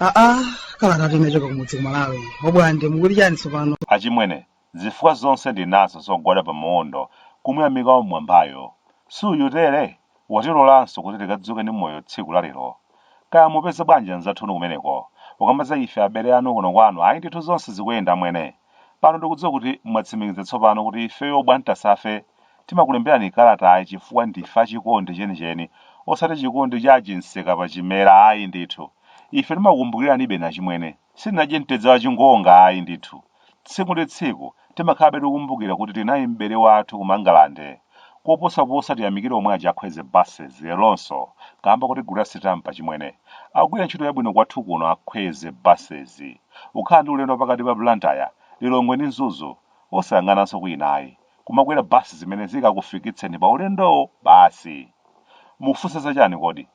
aa kalata yochoka kumudzi kumalawi obwande mukuti chani tsopano achimwene Zifukwa zonse ndi nazo zogwada pa maondo kumuyamika Wammwambayo. Si uyu tere? Watilolanso kuti tikadzuke ndi moyo tsiku la lero. Kaya mupeza bwanji anzathunu kumeneko? Pokamba za ife abele anu kuno kwanu ayi ndithu zonse zikuyenda amwene. Pano ndikudziwa kuti mwatsimikiza tsopano kuti ifeyo Bwantasafe timakulemberani kalatayi chifukwa ndife a chikondi chenicheni osati chikondi cha achinseka pa chimera ayi ndithu. Ife timakukumbukiranibe inu achimwene. Sitinadye mtedza wa chingonga ayi ndithu. Tsiku ndi tsiku, timakhalabe tikukumbukira kuti tili naye m'bale wathu ku Mangalande. Koposa posa tiyamikire omwe aja a Khweze Buses leronso kamba kotigulira sitampa chimwene. Akugwira ntchito yabwino kwathu kuno a Khweze Buses. Ukhala ndi ulendo wapakati pa Blantyre, Lilongwe ndi Mzuzu, osayang'ananso kwina ayi. Kumakwera bus zimene zikakufikitseni pa ulendowo basi. Mufunsa chani kodi?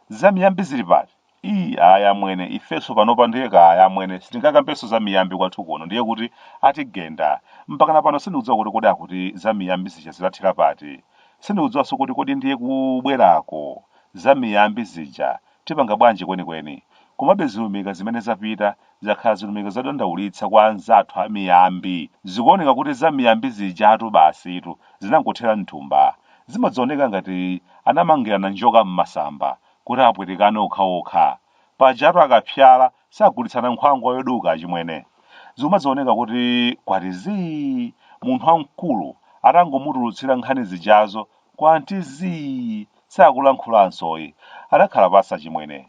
Za miyambi zili pati? ii ayi amwene ifeso panopa ndiye kaya amwene sitingakambeso za miyambi kwathu kuno ndiye kuti atigenda mpakana pano sindikudziwa kuti kodi akuti za miyambi zija zinathera pati sindikudziwaso kuti kodi ndiye kubwera kwa za miyambi zija tipanga bwanji kwenikweni komabe zilumika zimene zapita zakhala zilumika zodandaulitsa kwa anzathu a miyambi zikuoneka kuti za miyambi zijatu basitu zinangothera mthumba zikumadzioneka ngati anamangirana njoka m'masamba kuti apwetekane okhaokha. Pajatu akapsyala sagulitsana nkhwangwa yoduka achimwene. Zikumadzioneka kuti kwati zii! Munthu wamkulu atangomutulutsira nkhani zijazo kwanti zii! Sakulankhulansoyi. Adakhala pansi achimwene.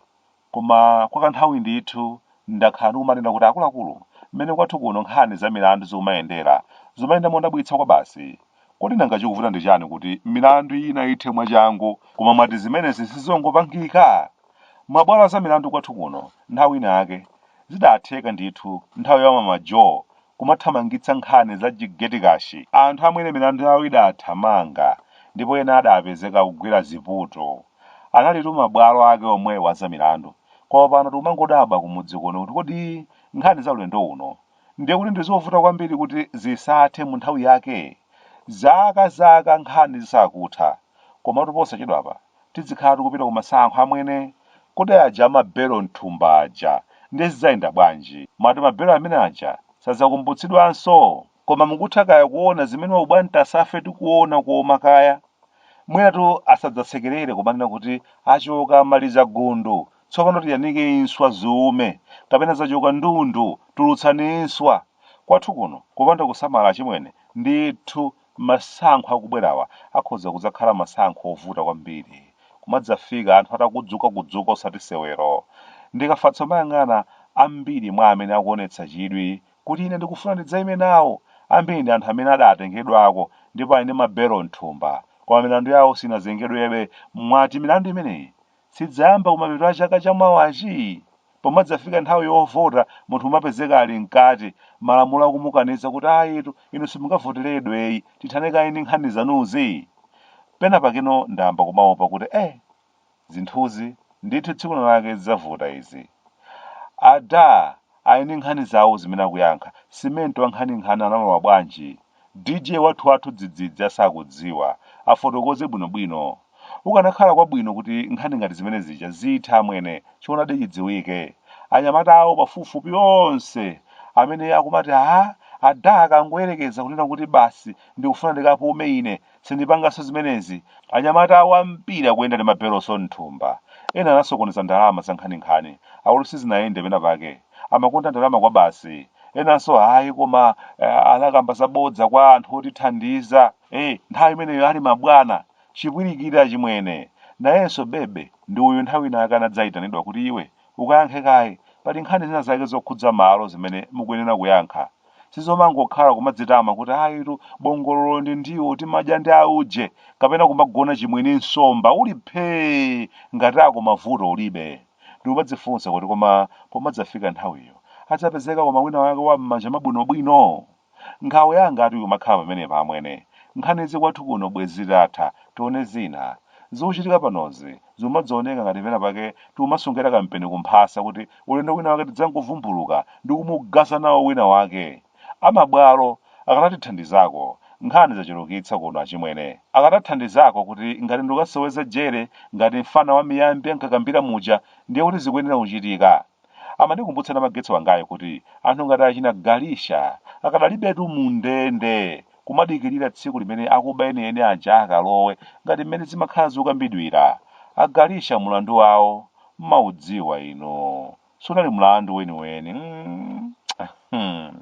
Koma kwa kanthawi ndithu ndakhala ndikumanena kuti akuluakulu, mmene kwathu kuno nkhani za milandu zikumayendera, zikumayenda modabwitsa kwabasi. Kodi nanga chikuvuta ndi chani kuti milandu ina ithe mwachangu koma mwati zimenezi sizongopangika? Mabwalo azamilandu kwathu kuno nthawi ina yake zidatheka ndithu nthawi ya Mama Jo kumathamangitsa nkhani za chigetikashi anthu amene milandu yawo idathamanga ndipo ena adapezeka akugwira ziputu analitu mabwalo ake omwewo azamilandu koma pano tikumangodabwa kumudzi kuno kuti kodi nkhani za ulendo uno ndiye kuti ndizovuta kwambiri kuti zisathe mu nthawi yake zaka zaka nkhani zisakutha komatu posachedwapa tidzikhala tikupita ku masankho amwene kodi aja amabelo mthumba aja ndiye zidzayenda bwanji mwati mabelo amene aja sadzakumbutsidwanso koma mukutha kaya kuona zimene a Bwantasafe tikuona koma kaya mwinatu asadzatsekerere kumanena kuti achoka maliza gundu Tsopano tiyanika inswa ziume, kapena zachuluka ndundu, tulutsani inswa. Kwathu kuno, kupanda kusamala achimwene, ndithu masankho akubwerawa akhoza kudzakhala masankho ovuta kwambiri. Kumadzafika anthu atakudzukakudzuka osati sewero. Ndikafatsa kumayang'ana ambiri mwa amene akuonetsa chidwi kuti ine ndikufuna ndidzaime nawo, ambiri ndi anthu amene adatengedwako ndipo ali ndi mabelo m'thumba, koma milandu yawo sinazengedwebe. Mwati milandu imeneyi Sidzayamba kumapeto a chaka cha mawachi? Pomadzafika nthawi yovota munthu umapezeka ali mkati malamulo akumukaniza kuti ayitu inu simungavoteredweyi tithane kaye ndi nkhani zanuzi? Penapakeno ndayamba kumaopa kuti eh zinthuzi ndithu tsiku lina lake zidzavuta izi. Adah, ali ndi nkhani zawo zimene akuyankha. Simenti wankhaninkhani analowa bwanji? Dj wathuwathu dzidzidzi asakudziwa afotokoze bwinobwino. Kukanakhala kwabwino kuti nkhani ngati zimene zija zithe amwene choonadi chidziwike. Anyamata awo pafupifupi onse amene akumati aah adah akangoyerekeza kunena kuti basi ndikufuna ndikapume ine Sindipanganso zimenezi. Anyamata awo a mpira akuyenda ndi mabeloso m'thumba. Ena anasokoneza ndalama zankhaninkhani. Akuti sizinayende penapake. Amakonda ndalama kwabasi. Enanso ayi koma eh, anakamba zabodza kwa anthu otithandiza. Eh, nthawi imeneyo ali mabwana. Chipwirikiti achimwene. Nayenso Bebe ndi uyu nthawi inayake anadzaitanidwa kuti iwe Ukayankhe kaye. Pali nkhani zina zake zokhudza malo zimene mukuyenera kuyankha. Sizomangokhala kumadzitama kuti ayitu bongololo ndi ndiwo timadya ndi auje kapena kumagona chimwini nsomba uli phee ngati uko mavuto ulibe. Ndikumadzifunsa kuti koma pomadzafika nthawiyo adzapezeka koma winawake wa m'manja mwabwinobwino? Nkhawa yangatu ikumakhala pamenepa amwene. Nkhanizi kwathu kuno bwezi zitatha, tione zina. Zikuchitika panozi zikumazioneka ngati pena pake tikumasungira kampeni kumphasa kuti ulendo wina wake tidzangokavumbulula ndi kumugwaza nawo wina wake. A mabwalo akanatithandizako. Nkhani zachulukitsa kuno achimwene. Akanathandizako kuti ngati ndikukaseweza jere ngati mfana wa miyambi ankakambira muja ndiye kuti zikuyenera kuchitika. Amandikumbutsa Namagetsi wangayo kuti anthu ngati achina Galisha akadalibetu mundende kumadikilira tsiku limene akuba enieni aja akalowe ngati mmene zimakhala zikukambidwira. A Galisha mulandu wawo mumaudziwa inu. Sunali mlandu weniweni mm.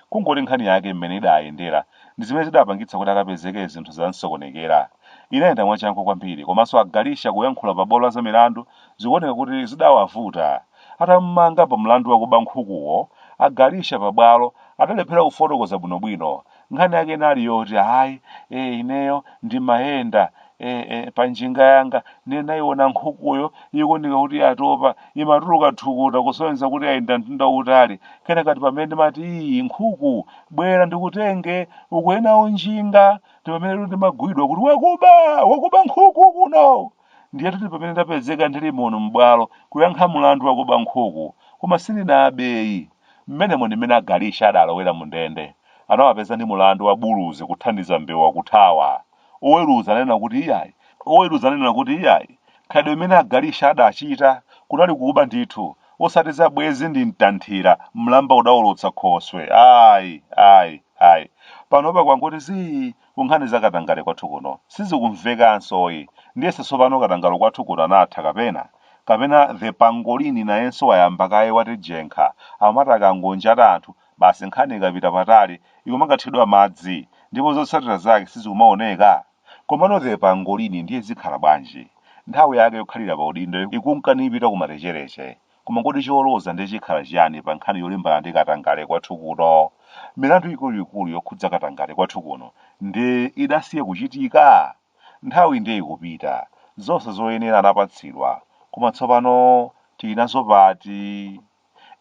Kungoti nkhani yake mmene idayendera ndi zimene zidapangitsa kuti akapezeke zinthu zamsokonekera. Inayenda mwachangu kwambiri komanso a Galisha kuyankhula pa bwalo la zamilandu zikuoneka kuti zidawavuta. Atamumanga pa mlandu wakuba nkhukuwo, a Galicia pa bwalo adalephera kufotokoza bwinobwino. Nkhani yake inali yoti, ayi, ee, ineyo ndimayenda, ee, ee, pa njinga yanga ndiye ndinaiona nkhukuyo ikuoneka kuti yatopa, imatuluka thukuta kusonyeza kuti yayenda mtunda wautali. Kenaka ndi pamene ndimati, ii, nkhuku, bwera ndikutenge, ukwere nawo njinga. Ndi pamenetu ndimagwidwa kuti wakuba! Wakuba nkhuku kuno! Ndiyetu ndi pamene ndapezeka ndili muno m'bwalo kuyankha mlandu wakuba nkhuku. Koma sindinabeyi. Mmenemo ndi mmene a Galicia adalowera mundende. Anawapeza ndi mlandu wa buluzi kuthandiza mbewa kuthawa. Oweruza ananena kuti iyayi. Oweruza ananena kuti iyayi, khalidwe limene a Galicia adachita kunali kuba ndithu, osati za bwenzi ndi mtanthira, mlamba udaolotsa khoswe. Ayi, ayi, ayi. Panopa kwangoti zii, ku nkhani za katangale kwathu kuno sizikumvekansoyi ndiyesa tsopano katangale kwathu kuno anatha kapena kapena Che pangolini nayenso wayamba kaye watijenkha amati akangonjata anthu basi nkhani ikapita patali ikumakathedwa madzi ndipo zotsatira zake sizikumaoneka komano Che pangolini ndiye zikhala bwanji nthawi yake yokhalira pa udindo ikunka nipita kumalecheleche Koma kodi choloza ndiye chikhala chiyani pa nkhani yolimbana ndi katangale kwathu kuno? Milandu ikuluikulu yokhudza katangale kwathu kuno ndiye idasiya kuchitika? Nthawi ndiye ikupita, zonse zoyenera anapatsidwa, koma tsopano tili nazo pati?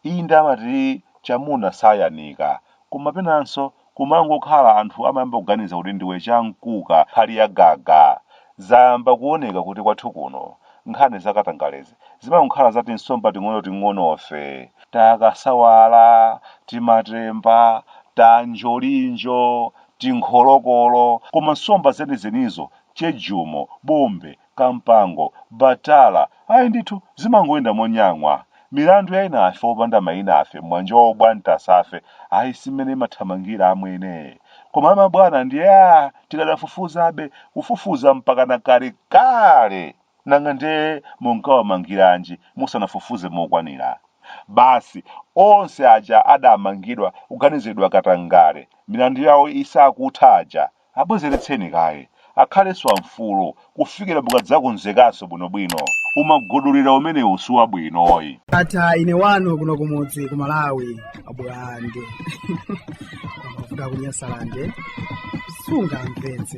Inde amati chamuna sayanika, koma penanso kumangokhala anthu amayamba kuganiza kuti ndiwe chamkuka nkhali ya gaga zayamba kuoneka kuti kwathu kuno nkhani za katangalezi zimangokhala za tinsomba ting'onoting'onofe takasawala timatemba tanjolinjo tinkholokolo koma nsomba zenizenizo chejumo bombe Kampango, Batala, ayi ndithu zimangoyenda monyang'wa. Milandu ya enafe opanda mayinafe m'mwanjowo abwantasafe, ayi si m'mene imathamangira amwene. Koma a mabwana ndiye aah tikadafufuzabe, kufufuza mpakana kalekale! Nanga nde munkawamangiranji musanafufuze mokwanira? Basi onse aja adamangidwa kuganiziridwa katangale milandu yawo isakutha aja Abwezeretseni kaye, akhalenso amfulu kufikira mukadzakonzekanso bwinobwino. Umagudulira umenewu siwabwinoyi. Ndatha ine wanu kuno kumudzi ku Malawi abulande amavuta ku Nyasalande sungamvetse